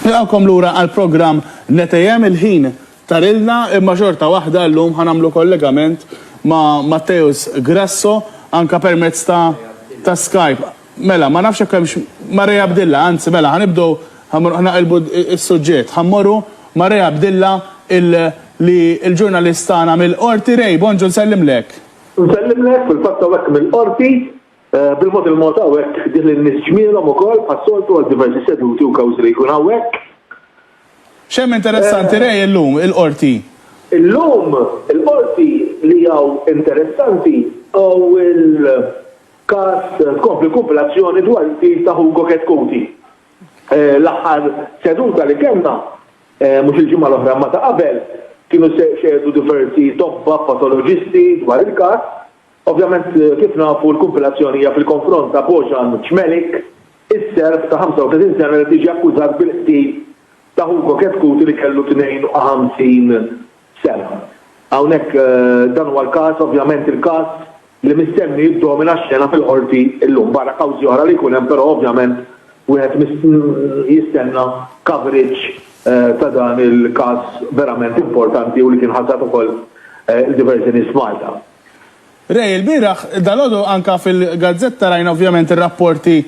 Nilqgħukom lura għall-programm Netejhem, il-ħin tarilna imma xorta waħda llum ħa nagħmlu kollegament ma' Matteus Grasso anke permezz ta' ta' Skype. Mela, ma nafx jekk hemmx ma' Ray Abdilla, anzi mela ħa nibdew ħa mor ħa naqilbu s-suġġett. Ħa mmorru ma' Ray Abdilla il li l-ġurnalist tagħna mill-Qorti. Ray, bonġu nsellimlek. Nsellimlek, fil-fatt hawnhekk mill-Qorti. Bil-mod il-mod hawnhekk ħdih lin-nies ġmielhom ukoll bħas-soltu għal diversi seduti u kawżi li jkun hawnhekk. X'hemm interessanti Ray illum il-Qorti? Illum il-Qorti li hawn interessanti hawn il-każ tkompli kumpilazzjoni dwar il-qtil ta' Hugo Chetcuti. L-aħħar seduta li kellna, mhux il-ġimgħa l-oħra imma ta' qabel, kienu xehdu diversi tobba patoloġisti dwar il-każ Ovvjament, kif nafu, l-kumpilazzjoni hija fil-konfront ta' Bojan Cmelik, is-Serb ta' 35 sena li qed jiġi akkużat bil-qtil ta' Hugo Chetcuti li kellu 52 sena. Hawnhekk dan huwa l-każ, ovvjament il-każ li mistenni jiddomina x-xena fil-Qorti llum, barra kawżi oħra li jkun hemm però ovvjament wieħed jistenna coverage ta' dan il-każ verament importanti u li kien ħasad ukoll il-diverżjoni f'Malta. Ray, ilbieraħ, dalgħodu anke fil-gazzetta rajna ovvjament ir-rapporti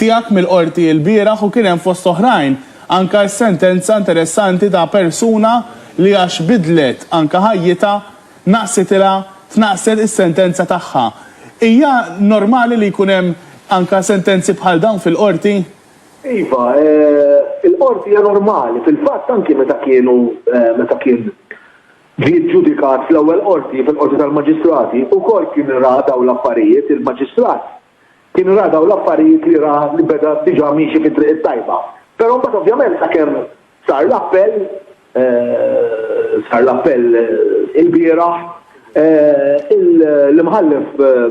tiegħek mill-Qorti ilbieraħ u kien hemm fost oħrajn anke s-sentenza interessanti ta' persuna li għax bidlet anke ħajjitha naqsitilha tnaqqset is-sentenza tagħha. Hija normali li jkun hemm anke sentenzi bħal dawn fil-Qorti? Iva, il-Qorti hija normali. Fil-fatt anke meta kienu meta kien Ġie ġġudikat fl-Ewwel Qorti, fil-Qorti tal-Maġistrati, ukoll kien ra dawn l-affarijiet, il-Maġistrat kien ra dawn l-affarijiet li ra li beda diġà miexi fit-triq it-tajba. Però mbagħad ovvjament sakemm sar l-appell, sar l-appell ilbieraħ, l-Imħallef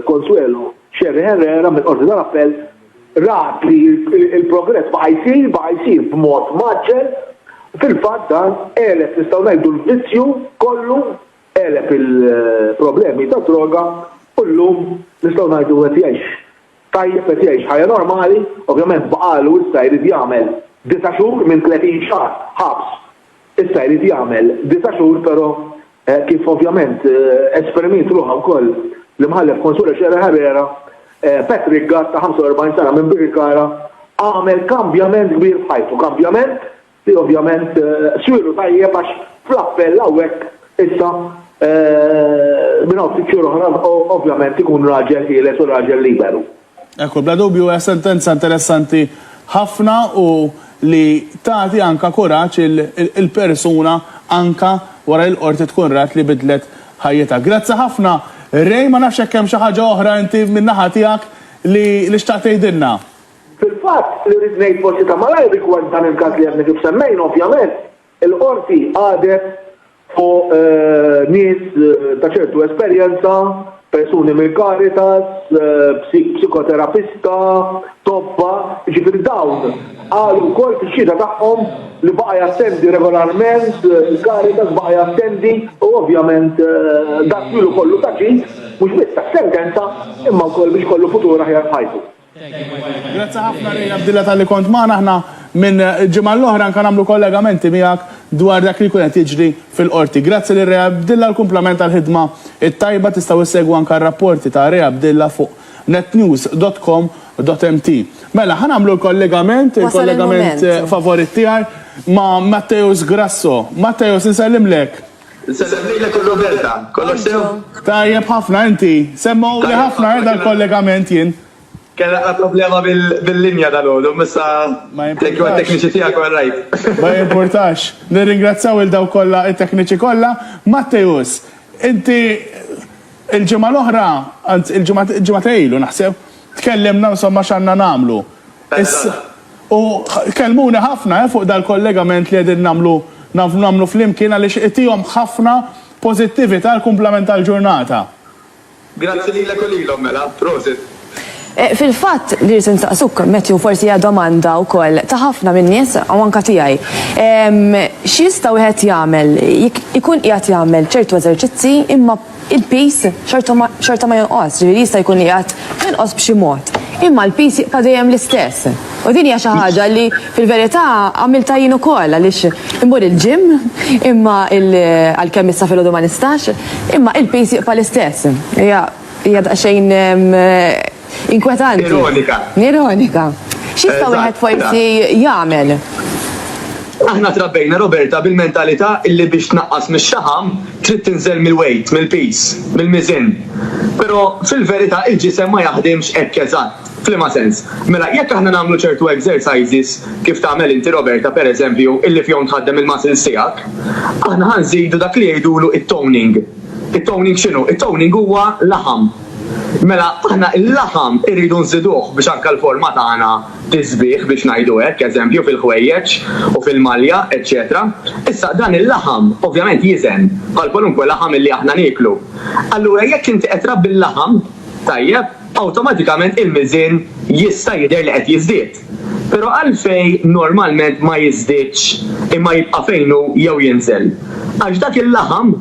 Consuelo Scerri Herrera mill-Qorti tal-Appell, rat li l-progress baqa' jsir, baqa' jsir b'mod mgħaġġel, fil-fatt dan għeleb, nistgħu ngħidu, l-vizzju kollu, għeleb il-problemi tad-droga u llum nistgħu ngħidu qed jgħix tajjeb, qed jgħix ħajja normali, ovvjament baqagħlu issa jrid jagħmel disa' xhur minn tletin xahar ħabs. Issa jrid jagħmel disa' xhur però kif ovvjament esprimiet ruħha wkoll l-Imħallef Consuelo Scerra Herrera, Patrick Gatt ta' 45 sena minn Birkirkara għamel kambjament kbir f'ħajtu, kambjament li ovvjament swielu tajjeb għax fl-appell hawnhekk issa minn hawn ftit xhur oħra ovvjament ikun raġel ħieles u raġel liberu. Ekku, bla dubju hija sentenza interessanti ħafna u li tagħti anka kuraġġ il-persuna anka wara li l-Qorti tkun rat li bidlet ħajjitha. Grazzi ħafna Ray, ma nafx jekk hemm xi ħaġa oħra inti min-naħa tiegħek li li xtaqt tgħidilna. Fil-fatt, li rrid ngħid forsi ta' malajr rigward dan il-każ li għadna kif semmejna, ovvjament, il-Qorti qadet fuq nies ta' ċertu esperjenza, persuni mill-Caritas, psikoterapista, tobba, jiġifieri dawn qalu wkoll fix-xhieda tagħhom li baqa' jattendi regolarment il-Caritas, baqa' jattendi u ovvjament dan ilu kollu ta' ġid mhux biss tas-sentenza imma wkoll biex ikollu futur aħjar f'ħajtu. Grazzi ħafna Ray Abdilla talli kont magħna. Aħna minn ġimgħa l-oħra anke nagħmlu kollegamenti miegħek dwar dak li jkun qed jiġri fil-Qorti. Grazzi lil Ray Abdilla u kumplament għall-ħidma t-tajba. Tistgħu issegwu anke r-rapporti ta' Ray Abdilla fuq netnews dot com dot mt. Mela, ħa nagħmlu l-kollegament, il-kollegament favorit tiegħi ma' Matteus Grasso. Matteus, insellimlek. Insellem lilek u Roberta. Kollox sew? Tajjeb ħafna, inti? Semmgħuli ħafna eh dal-kollegament jien. Kellna xi problema bil-linja dalgħodu, imma issa thank you għat-tekniċi tiegħek u għar-raid. Ma jimpurtax. Nirringrazzjaw lil dawk kollha, it-tekniċi kollha. Matteus, inti l-ġimgħa l-oħra, anzi l-ġimgħa ta' ilu naħseb, tkellimna insomma x'għandna nagħmlu. Issa, u kellmuni ħafna fuq dal-kollegament li qegħdin nagħmlu nagħmlu flimkien għaliex itihom ħafna pożittività għall-kumplament tal-ġurnata. Grazzi lilek u lilhom mela. Prosit. Fil-fatt, li rrid insaqsuk, Matthew, forsi hija domanda wkoll ta' ħafna min-nies u anke tiegħi. X'jista' wieħed jagħmel jekk ikun qiegħed jagħmel ċertu eżerċizzi imma il-piż xorta ma jonqos, ġifieri jista' jkun qiegħed jonqos b'xi mod, imma l-piż jibqa' dejjem l-istess. U din hija xi ħaġa li fil-verità għamiltha jien ukoll għaliex immur il-ġim imma għalkemm issa filgħodu ma nistax, imma il-piż jibqa' l-istess. Hija hija daqsxejn Inkwetanti. Ironika. Ironika. Xista wieħed forsi jagħmel? Aħna trabbejna Roberta bil-mentalità illi biex tnaqqas mix-xaħam trid tinżel mill-weight, mill-piż, mill-miżien. Però fil-verità il-ġisem ma jaħdimx hekk eżatt. F'liema sens? Mela jekk aħna nagħmlu ċertu exercises kif tagħmel inti Roberta pereżempju illi fihom tħaddem il-muscles tiegħek, aħna ħa nżidu dak li jgħidulu t-toning. It-toning x'inhu? It-toning huwa laħam. Mela aħna il-laħam irridu nżiduh biex anke l-forma tagħna tiżbieh biex ngħidu hekk, eżempju fil-ħwejjeġ u fil-malja, eċċetera. Issa dan il-laħam ovvjament jiżen bħal kwalunkwe laħam illi aħna nieklu. Allura jekk inti qed trabbi l-laħam tajjeb, awtomatikament il-miżien jista' jidher li qed jiżdied. Però għalfejn normalment ma jiżdiedx imma jibqa' fejn hu jew jinżel? Għax dak il-laħam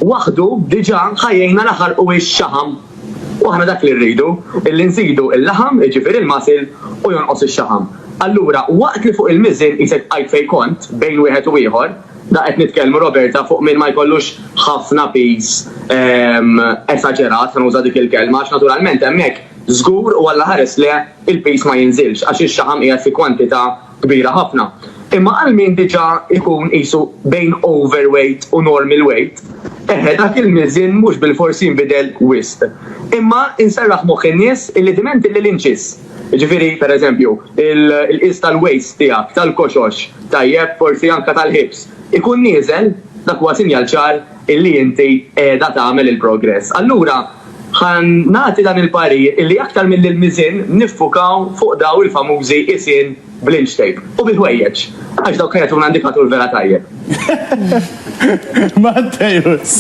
waħdu diġà ħajjejna laħalqu hix xaħam. U aħna dak li rridu, illi nżidu l-laħam, jiġifieri l-muscle, u jonqos ix-xaħam. Allura waqt li fuq il-miżien qisek bqajt fejn kont, bejn wieħed u ieħor, da qed nitkellmu Roberta fuq min ma jkollux ħafna piż esaġerat, ħa nuża dik il-kelma, għax naturalment hemmhekk żgur u Alla ħares le il-piż ma jinżilx għax ix-xaħam qiegħed fi kwantità kbira ħafna. Imma għal min diġà jkun qisu bejn overweight u normal weight, eħe dak il-miżien mhux bilfors jinbidel wisq. Imma inserraħ moħħ in-nies illi diment illi l-inċis, jiġifieri pereżempju l-qies tal-waist tiegħek, tal-koxox, tajjeb, forsi anke tal-hips, ikun nieżel, dak huwa sinjal ċar illi inti qiegħda tagħmel il-progress. Allura ħa nagħti dan il-parir illi aktar milli l-miżien niffukaw fuq daw il-famużi qisien bl-inch tape u bil-ħwejjeġ għax dawk jagħtuna indikatur vera tajjeb. Mattejus!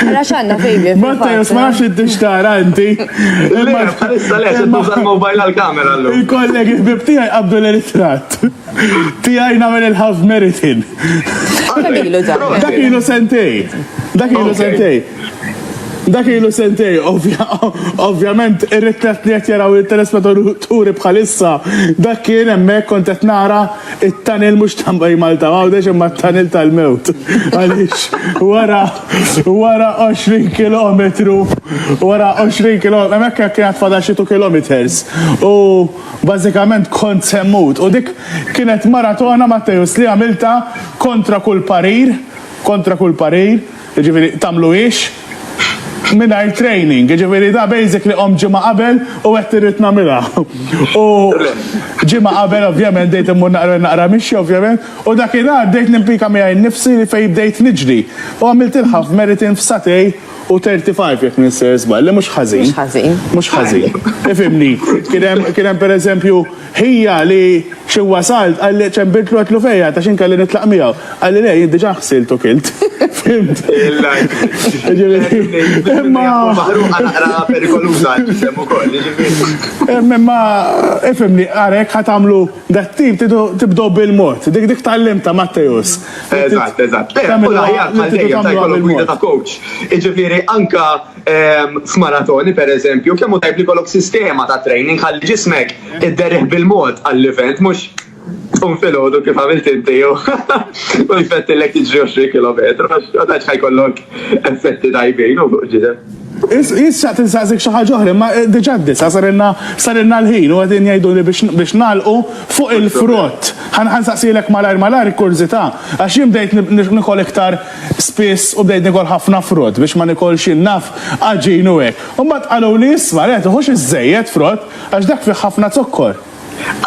Ara x'għandna fejli. Mattejus ma nafx inti x'tara inti. Imma bħalissa le se tuża l-mobile għall-kamera llum. Il-kollegi ħbib tiegħi qabdu l-ritratt. Tijaj namel il-half meritin. Dak ilu sentej. Dak ilu sentej. Dak ilu sentej, ovvjament, ir-ritrat li qed jaraw il-telespettaturi bħalissa, dak kien hemmhekk kont qed nara it-tunnel mhux ta' Malta Għawdex imma t-tunnel tal-mewt. Għaliex wara wara 20 kilometru, wara 20 kilometru, hemmhekk kien għad fadal xi 2 kilometers. U Bażikament kont se mmut u dik kienet maratona Matteus li għamiltha kontra kull parir, kontra kull parir, jiġifieri tagħmluhiex mingħajr training, jiġifieri da basically qomt ġimgħa qabel u għedt irrid nagħmilha. U ġimgħa qabel ovvjament bdejt immur naqra naqra mixja ovvjament u dakinhar bdejt nimpika miegħi nnifsi li fejn bdejt niġri u għamiltilha f'meritin f'sagħtej. u 35 jekk ninsir żball, li mhux ħażin. Mhux ħażin. Mhux ħażin. Ifimni, kien hemm pereżempju ħija li xi wasalt qalli ċem bidlu għatlu fejja ta' xi nkelli nitlaq miegħu. Qalli le jien diġà ħsilt u kilt. Fimt. Imma Imma ifimni għarek ħatamlu dat-tip tibdow bil-mod. Dik dik tal-limta Mattejus. Eżatt, eżatt. Eh, u l-aħjar bħal dejjem ta' jkollok gwida ta' coach. Iġifieri anka ehm, f'maratoni pereżempju, kemm hu tajb li jkollok sistema ta' training ħalli ġismek idderih bil-mod għall-event mhux tkun fil-ħodu kif għamilt inti jew u jfettilek tiġri 20 km, għax ħajkollok effetti tajbin u fuq ġidem. Jien xtaqt insaqsik xi ħaġa oħra, imma diġà d-disgħa sarilna sarilna l-ħin u qegħdin jgħiduli biex biex nagħlqu fuq il-frott. Ħa ħa nsaqsielek malajr malajr kurżità, għax jien bdejt nikol iktar spiss u bdejt nikol ħafna frott biex ma nikolx jien naf għaġin u hekk. U mbagħad qaluli isma' le tiħux iżżejjed frott għax dak fih ħafna zokkor.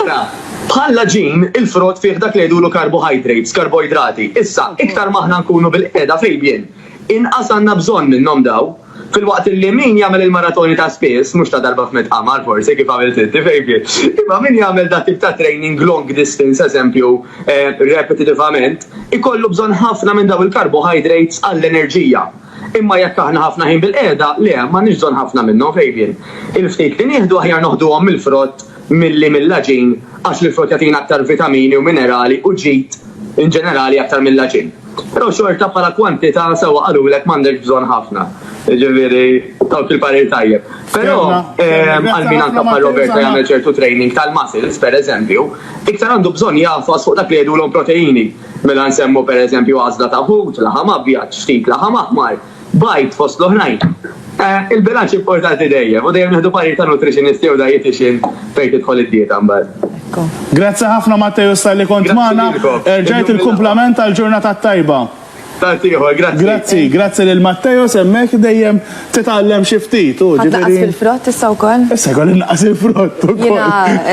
Ara, bħall-għaġin, il-frott fih dak li jgħidulu karbohajdrates, karboidrati. Issa, iktar ma aħna nkunu bil-qiegħda fil-bjien, Inqas għandna bżonn minnhom dawn. Filwaqt illi min jagħmel il-maratoni ta' spiss, mhux ta' darba f'mitt qamar forsi kif għamilt inti baby, imma min jagħmel dat tip ta' training long distance eżempju repetitivament, ikollu bżonn ħafna minn dawn il-carbohydrates għall-enerġija. Imma jekk aħna ħafna ħin bilqiegħda, le, m'għandniex bżonn ħafna minnhom, Fabian. Il-ftit li nieħdu aħjar noħduhom mill-frott, milli mill-għaġin għax l-frott jagħtina aktar vitamini u minerali u ġid in ġenerali aktar mill-għaġin. Però xorta bħala kwantità sewwa qalulek m'għandekx bżonn ħafna. Jiġifieri tawk il-parir tajjeb. Però għal min anke bħal Roberta jagħmel ċertu training tal-muscles pereżempju, iktar għandu bżonn jagħfas fuq dak li jgħidulhom proteini. Mela nsemmu pereżempju għażla ta' ħut, laħam abjad, ftit laħam aħmar. Bajt fost l-oħrajn. Eh, il-bilanċ importanti dejjem, u dejjem nieħdu parir ta' nutritionist jew dietitian fejn tidħol id-dieta mbagħad. Grazzi ħafna Matteo Stalli kont magħna. Erġajt il-kumplament tal-ġurnata tajba. Tatiħor, grazzi. Grazzi, grazzi lil Matteo semmek dejjem titgħallem xi ftit. Ħadd fil-frott issa wkoll? Issa jkolli naqas il-frott ukoll.